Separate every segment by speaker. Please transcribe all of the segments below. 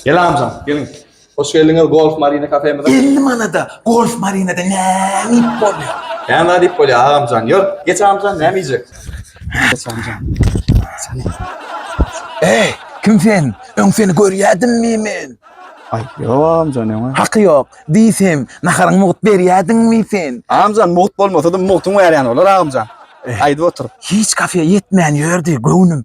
Speaker 1: Elamjan, geliň. Hoş geldiňiz Golf Marina kafemize. Elli manada
Speaker 2: Golf Marinada näme iýip bolýar? Näme zat iýip bolýar
Speaker 1: agamjan? Ýör, geç agamjan, näme iýjek? Geç agamjan.
Speaker 2: Eý, kim sen? Öň seni görýädimmi men? Aý, ýok
Speaker 1: agamjan, öňe. Haky ýok. Diýsem,
Speaker 2: naharyňy mugt berýädiňmi sen? Agamjan, mugt bolmasa-da
Speaker 1: mugtyň bärýäni bolar agamjan. Aýdyp otur. Hiç kafeýa ýetmän
Speaker 2: ýördi göwnüm.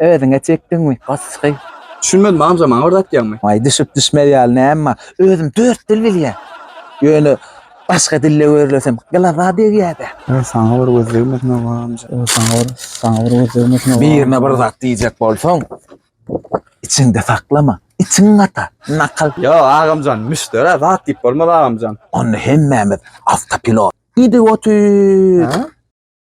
Speaker 2: Özüňe çekdiňmi gaçgy. Düşünmedim amca
Speaker 1: maňa bir zat diýäňmi. Aý düşüp düşmez ýaly
Speaker 2: näme bar. Özüm dört dil bilýän. Ýöne başga dilde görlesem gylaza degýädä. Öý saňa bir göz
Speaker 1: degmesin oba amja. Öý saňa bir saňa bir göz degmesin oba. Birine bir zat diýjek
Speaker 2: bolsaň içiňde saklama. Içiň gata. Nakal. Ýok agamjan
Speaker 1: müşderä zat diýip bolmaz agamjan. Onda hemmämiz
Speaker 2: awtopilot. Idiot üy.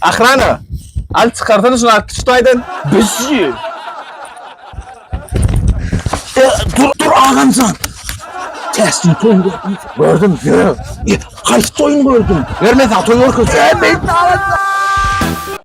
Speaker 1: Ahrana. Al çykarsana şunu atdy şutaýdan. Bizi. E,
Speaker 2: dur dur agamjan. Täsin toýun gördüm. Gördüm. Gördüm. Kaç toýun gördüm. Görmesen toýun gördüm. Görmesen toýun gördüm.